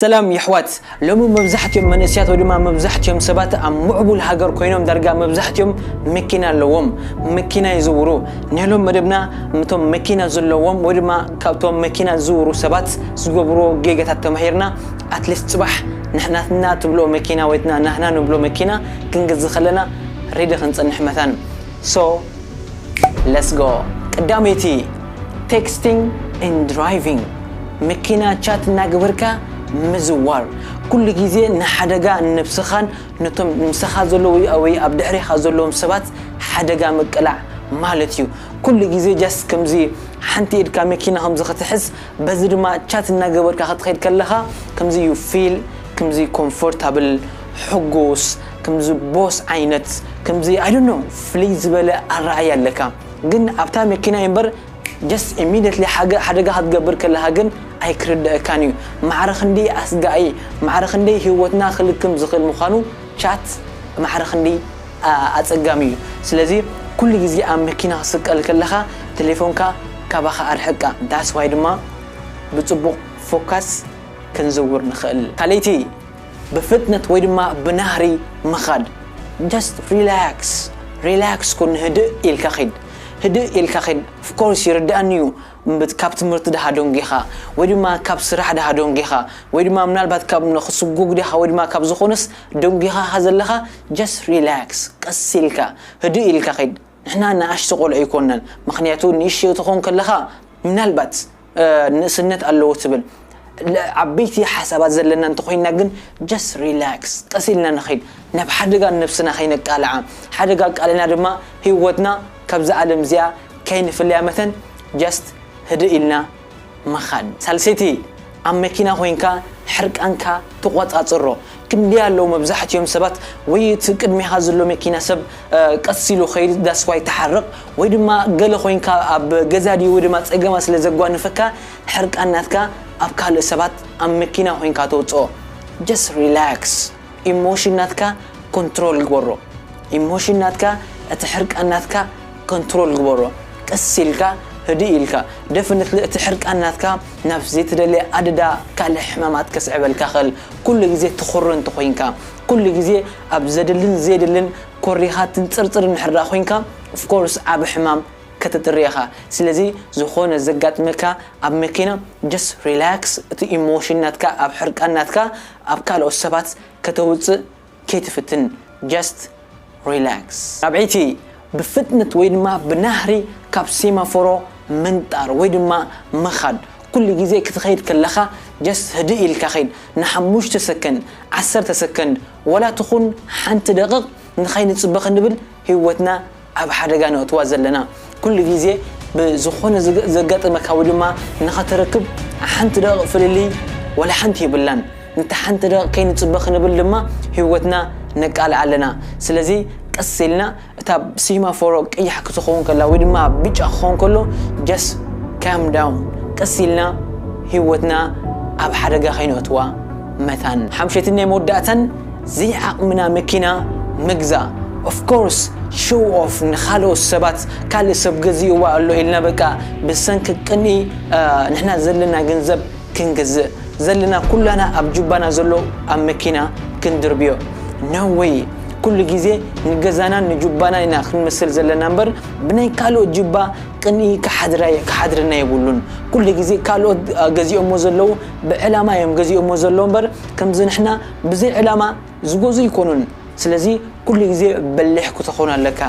ሰላም የሕዋት ሎሚ መብዛሕቲኦም መንእሰያት ወይ ድማ መብዛሕቲኦም ሰባት ኣብ ሙዕቡል ሃገር ኮይኖም ዳርጋ መብዛሕቲኦም መኪና ኣለዎም መኪና ይዝውሩ ኔሎም መደብና ምቶም መኪና ዘለዎም ወይ ድማ ካብቶም መኪና ዝዝውሩ ሰባት ዝገብርዎ ጌጋታት ተማሂርና ኣትሊስት ጽባሕ ናትና ትብልኦ መኪና ወይ ናህና ንብሎ መኪና ክንገዝእ ከለና ሬዲ ክንጸንሕ መታን so Let's go ቅዳመይቲ Texting and Driving መኪና ቻት እናገበርካ ምዝዋር ኩሉ ግዜ ንሓደጋ ንነብስኻን ነቶም ምሳኻ ዘለዉ ወይ ኣብ ድሕሬኻ ዘለዎም ሰባት ሓደጋ ምቅላዕ ማለት እዩ ኩሉ ግዜ ጃስት ከምዚ ሓንቲ ኢድካ መኪና ከምዚ ክትሕዝ በዚ ድማ ቻት እናገበርካ ክትኸይድ ከለኻ ከምዚ ዩ ፊል ከምዚ ኮምፎርታብል ሕጉስ ከምዚ ቦስ ዓይነት ከምዚ ኣይ ዶንት ኖው ፍልይ ዝበለ ኣረኣእያ ኣለካ ግን ኣብታ መኪና እዩ እምበር ጀስት ኢሚድየትሊ ሓደጋ ክትገብር ከለካ ግን ኣይክርደኣካን እዩ ማዕረ ክንደይ ኣስጋኢ ማዕረ ክንደይ ሂወትና ክልክም ዝኽእል ምዃኑ ቻት ማዕረ ክንደይ ኣጸጋሚ እዩ ስለዚ ኩሉ ግዜ ኣብ መኪና ክትስቀል ከለካ ቴሌፎንካ ካባኻ ኣርሕቃ ዳትስ ዋይ ድማ ብጽቡቕ ፎካስ ክንዝውር ንኽእል ካልኣይቲ ብፍጥነት ወይ ድማ ብናህሪ ምኻድ just relax relax ኩን ህድእ ኢልካ ኺድ ህድእ ኢልካ ኺድ of course ይርድኣኒ እዩ እምብት ካብ ትምህርቲ ድሃ ደንጊኻ ወይ ድማ ካብ ስራሕ ድሃ ደንጊኻ ወይ ድማ ምናልባት ካብ ንኽስጉግ ድኻ ወይ ድማ ካብ ዝኾነስ ደንጊኻ ኢኻ ዘለኻ just relax ቀስ ኢልካ ህድእ ኢልካ ኺድ ንሕና ንኣሽቱ ቆልዑ ኣይኮናን ምኽንያቱ ንእሽቶ ትኾን ከለኻ ምናልባት ንእስነት ኣለዎ ትብል ዓበይቲ ሓሳባት ዘለና እንተኾይንና ግን ጀስት ሪላክስ ቀስ ኢልና ንኸይድ ናብ ሓደጋ ንነብስና ከይነቃልዓ ሓደጋ ኣቃሊዕና ድማ ህይወትና ካብዛ ዓለም እዚኣ ከይንፍለያ መተን ጀስት ህድእ ኢልና ምኻድ ሳልሰይቲ ኣብ መኪና ኮይንካ ሕርቃንካ ተቆጻጽሮ ክንደይ ኣለዉ መብዛሕቲኦም ሰባት ወይ እቲ ቅድሜኻ ዘሎ መኪና ሰብ ቀስ ኢሉ ኸይድ ዳስ ዋይ ተሓረቕ ወይ ድማ ገለ ኮይንካ ኣብ ገዛ ድዩ ወይ ድማ ጸገማት ስለ ዘጓንፈካ ሕርቃን ናትካ ኣብ ካልእ ሰባት ኣብ መኪና ኮይንካ ተውጽኦ ጀስት ሪላክስ ኢሞሽን ናትካ ኮንትሮል ግበሮ ኢሞሽን ናትካ እቲ ሕርቃን ናትካ ኮንትሮል ግበሮ ቀስ ኢልካ ህድእ ኢልካ ደፍነት እቲ ሕርቃን ናትካ ናብ ዘይተደለየ ኣደዳ ካልእ ሕማማት ከስዕበልካ ኸል ኩሉ ግዜ ትኹሪ እንተኾይንካ፣ ኩሉ ግዜ ኣብ ዘድልን ዘየድልን ኮሪኻ ትንጽርጽር እንድሕርድኣ ኮይንካ of course ዓቢ ሕማም ከተጥሪ ኢኻ። ስለዚ ዝኾነ ዘጋጥመካ ኣብ መኪና just relax እቲ ኢሞሽን ናትካ ኣብ ሕርቃን ናትካ ኣብ ካልኦት ሰባት ከተውጽእ ከይትፍትን just relax። ራብዐይቲ፣ ብፍጥነት ወይ ድማ ብናህሪ ካብ ሴማፎሮ ምንጣር ወይ ድማ ምኻድ። ኩሉ ግዜ ክትኸይድ ከለኻ just ህድእ ኢልካ ኺድ፣ ንሓሙሽተ ሰከንድ፣ ዓሰርተ ሰከንድ፣ ዋላ ትኹን ሓንቲ ደቕቕ ንኸይንጽበ ክንብል ህይወትና ኣብ ሓደጋ ነእትዋ ዘለና ኩሉ ግዜ ብዝኾነ ዘጋጥመካ ወይ ድማ ንኸተረክብ ሓንቲ ደቂቅ ፍልልይ ዋላ ሓንቲ የብላን ንታ ሓንቲ ደቂቅ ከይንጽበ ክንብል ድማ ሂወትና ነቃልዓ ኣለና ስለዚ ቀስ ኢልና እታ ሲማፎሮ ቀያሕ ክትኸውን ከላ ወይ ድማ ብጫ ክኸውን ከሎ just calm down ቀስ ኢልና ሂወትና ኣብ ሓደጋ ከይነእትዋ መታን ሓምሸትን ናይ መወዳእታን ዘይዓቅምና መኪና ምግዛእ of course show off ንካልኦት ሰባት ካልእ ሰብ ገዚእዋ ኣሎ ኢልና በቃ ብሰንኪ ቅንኢ ንሕና ዘለና ገንዘብ ክንገዝእ ዘለና ኩላና ኣብ ጁባና ዘሎ ኣብ መኪና ክንድርብዮ no way ኩሉ ግዜ ንገዛናን ንጁባናን ኢና ክንምስል ዘለና እምበር ብናይ ካልኦት ጁባ ቅንኢ ክሓድረና የብሉን ኩሉ ግዜ ካልኦት ገዚኦሞ ዘለዉ ብዕላማ እዮም ገዚኦሞ ዘለዉ እምበር ከምዚ ንሕና ብዘይ ዕላማ ዝጎዙ ኣይኮኑን ስለዚ ኩሉ ግዜ በሊሕ ክተኮን ኣለካ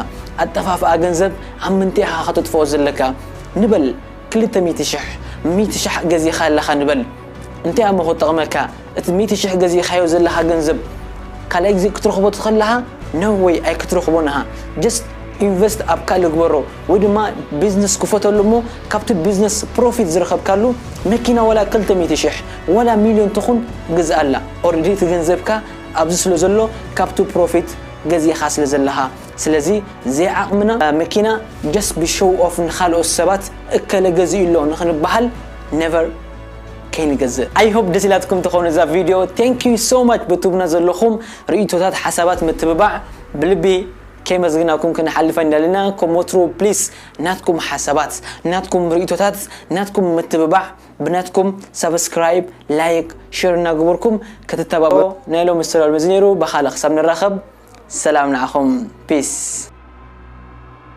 ኣጠፋፍኣ ገንዘብ ኣብ ምንታይ ኢካ ከተጥፍኦ ዘለካ ንበል ክልተ ሚእቲ ሽሕ ሚእቲ ሽሕ ገዚካ ኣለካ ንበል እንታይ ኣሞ ክጠቅመካ እቲ ሚእቲ ሽሕ ገዚካዮ ዘለካ ገንዘብ ካልኣይ ግዜ ክትረክቦ ትክለካ ነው ወይ ኣይክትረክቦን እካ ጀስት ኢንቨስት ኣብ ካልእ ግበሮ ወይ ድማ ቢዝነስ ክፈተሉ እሞ ካብቲ ቢዝነስ ፕሮፊት ዝረከብካሉ መኪና ወላ ክልተ ሚእቲ ሽሕ ዋላ ሚልዮን ትኹን ግዝኣላ ኦሬዲ እቲ ገንዘብካ ኣብዚ ስለ ዘሎ ካብቱ ፕሮፊት ገዚእኻ ስለ ዘለኻ ስለዚ ዘይዓቕምና መኪና ጀስት ብሾው ኦፍ ንኻልኦት ሰባት እከለ ገዚኡ ኣሎ ንኽንበሃል ነቨር ከይንገዝእ። ኣይ ሆፕ ደስ ኢላትኩም ትኾን እዛ ቪድዮ ቴንክ ዩ ሶ ማች ብትቡና ዘለኹም ርኢቶታት ሓሳባት ምትብባዕ ብልቢ ከየመስግናኩም ክንሓልፍ ኣይንደልና ከም ወትሩ ፕሊስ ናትኩም ሓሳባት ናትኩም ርኢቶታት ናትኩም ምትብባዕ ብናትኩም ሳብስክራይብ ላይክ ሽር እናግቡርኩም ክትተባበዑ ናይ ሎሚ ዝተዳልመ እዚ ነይሩ በካልእ ክሳብ ንራከብ ሰላም ንዓኩም ፒስ።